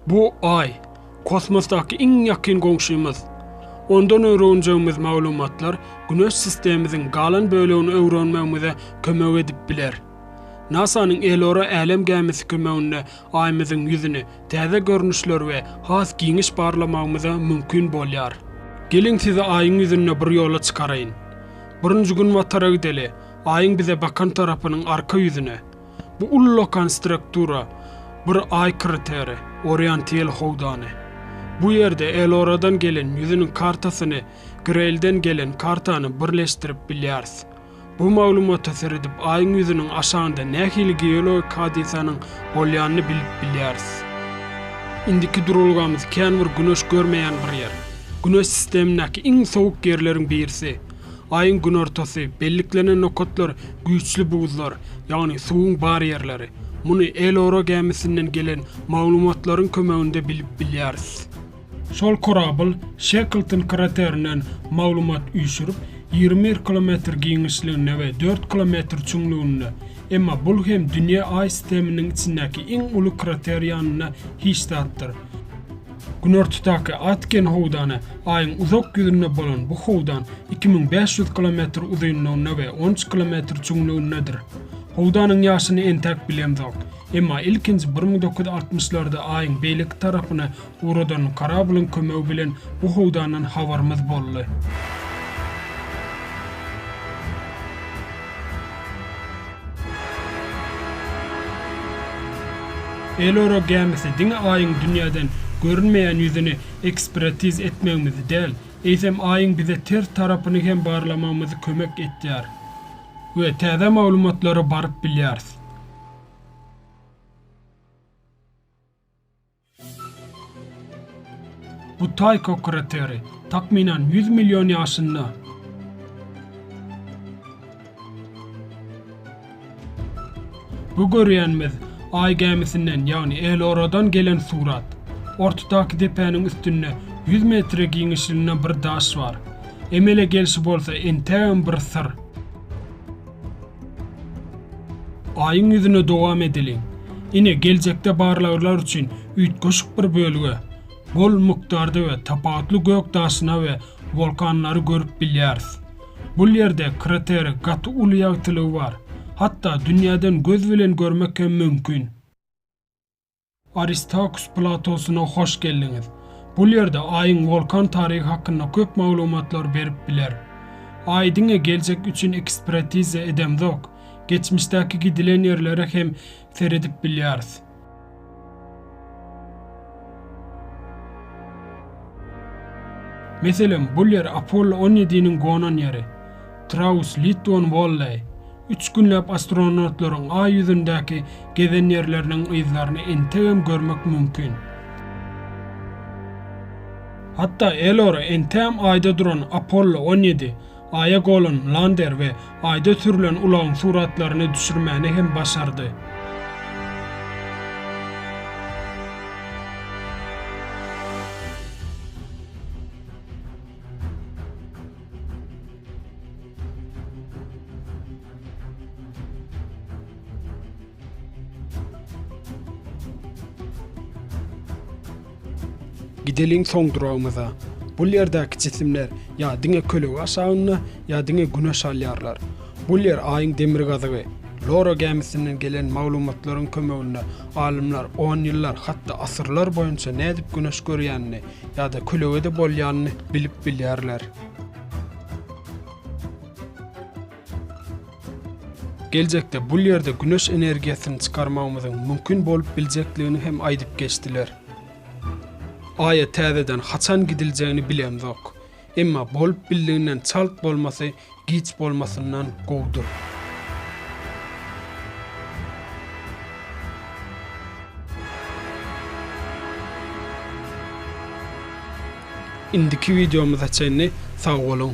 Bu Aý, kosmosdaky iň ýakyn goňşymyz. Ondan öwrenjegimiz maglumatlar Güneş sistemimiziň galan bölegini öwrenmegimize kömek edip biler. NASA-nyň Elora älem gämisi kömeginde Aýymyzyň ýüzüni täze görnüşler we has giňiş barlamagymyza mümkin bolýar. Geliň sizi Aýyň ýüzünde bir ýola çykaraýyn. Birinji Günbatara gideli, Aýyň bize bakan tarapynyň arka ýüzüne. Bu ullakan struktura bir Aý krateri, Oriantyel howdany. Bu ýerde Eloradan gelen ýüzüniň kartasyny Greýlden gelen kartany birleşdirip bilýäris. Bu maglumata seredip Aýyň ýüzüniň aşagynda nähili geologik hadysanyň bolýanyny bilip bilýäris. Indiki duralgamyz kän bir güneş görmeýän bir ýer. Güneş sistemindäki iň sowuk ýerleriň birisi. Aýyň günortasy, belliklenen nokatlar güýçli buzlar, ýagny suwuň bar ýerleri. Muny Elora gämisinden gelen maglumatlaryň kömeginde bilip bilýäris. Şol korabl Şeklton kraterinden maglumat üýşürip, ýigrimi bir kilometr giňişliginde we dört kilometr çuňlugynda, emma bul hem Dünýä Aý sisteminiň içindäki iň uly krater ýanynda hiç zatdyr. Günortadaky Atgen howdany Aýyň uzak ýüzünde bolan bu howdan iki müň bäş ýüz kilometr uzynlygynda we on üç kilometr çuňlugyndadyr. Howdanyň ýaşyny entäk bilemzok. Emma ilkinji bir müň dokuz ýüz altmyşlarda Aýyň beýleki tarapyna ugradan korablyň kömegi bilen bu howdandan habarymyz boldy. Elora gämisi diňe Aýyň dünýäden görünmeýän ýüzüni ekspertiz etmegimizi däl, eýsem Aýyň bize ters tarapyny hem barlamagymyzy kömek edýär we täze maglumatlara baryp bilýäris. Butaýko krateri, takmynan ýüz million ýaşynda. Bu görýänimiz Aý gämisinden, ýagny Elora-dan gelen surat. Ortadaky depäniň üstünde ýüz metre giňişliginde bir daş bar. Emele gelşi bolsa entägem bir syr. Aýyň ýüzüne dowam edeliň. Ine, geljekde barlaglar üçin üýtgeşik bir bölge. Bol mukdarda we tapawutly gök daşyna we wolkanlary görüp bilýäris. Bul ýerde krateri gaty uly ýagtylygy bar. Hatda dünýäden göz bilen görmek hem mümkin. Aristakus platosyna hoş geldiňiz. Bu ýerde Aýyň wolkan taryhy hakynda köp maglumatlar berip biler. Aý diňe geljek üçin ekspertiza edemzok, geçmişdäki gidilen ýerlere hem seredip bilýäris. Meselem, bul ýer Apollo on ýediniň gonan ýeri, Traus Litwon Walley. Üç günläp astronawtlaryň Aý ýüzündäki gezen ýerleriniň yzlaryny entegem görmek mümkin. Hatda Elora entegem Aýda duran Apollo on ýedi, Aýa golan lander we Aýda sürlen ulagyň suratlaryny düşürmäni hem başardy. Gideliň soň duragymyza. Bu ýerdäki jisimler ýa diňe kölege aşagynda, ýa diňe Güne şalýarlar. Bu ýer Aýyň demirgazygy. Loro gämisinden gelen maglumatlaryň kömeginde alymlar on ýyllar, hatda asyrlar boýunça nädip Güneş görýänini, Ýa-da kölege-de bolýanyny bilip bilýärler. Geljekde bul ýerde güneş energiýasyny çykarmagymyzyň mümkin bolup biljekdigini hem aýdyp geçdiler. Aýa täzeden haçan gidiljegini bilemzok. Emma bolup bildiginden çalt bolmasy Giç bolmasyndan gowudyr. Indiki wideomyza çenli sag boluň.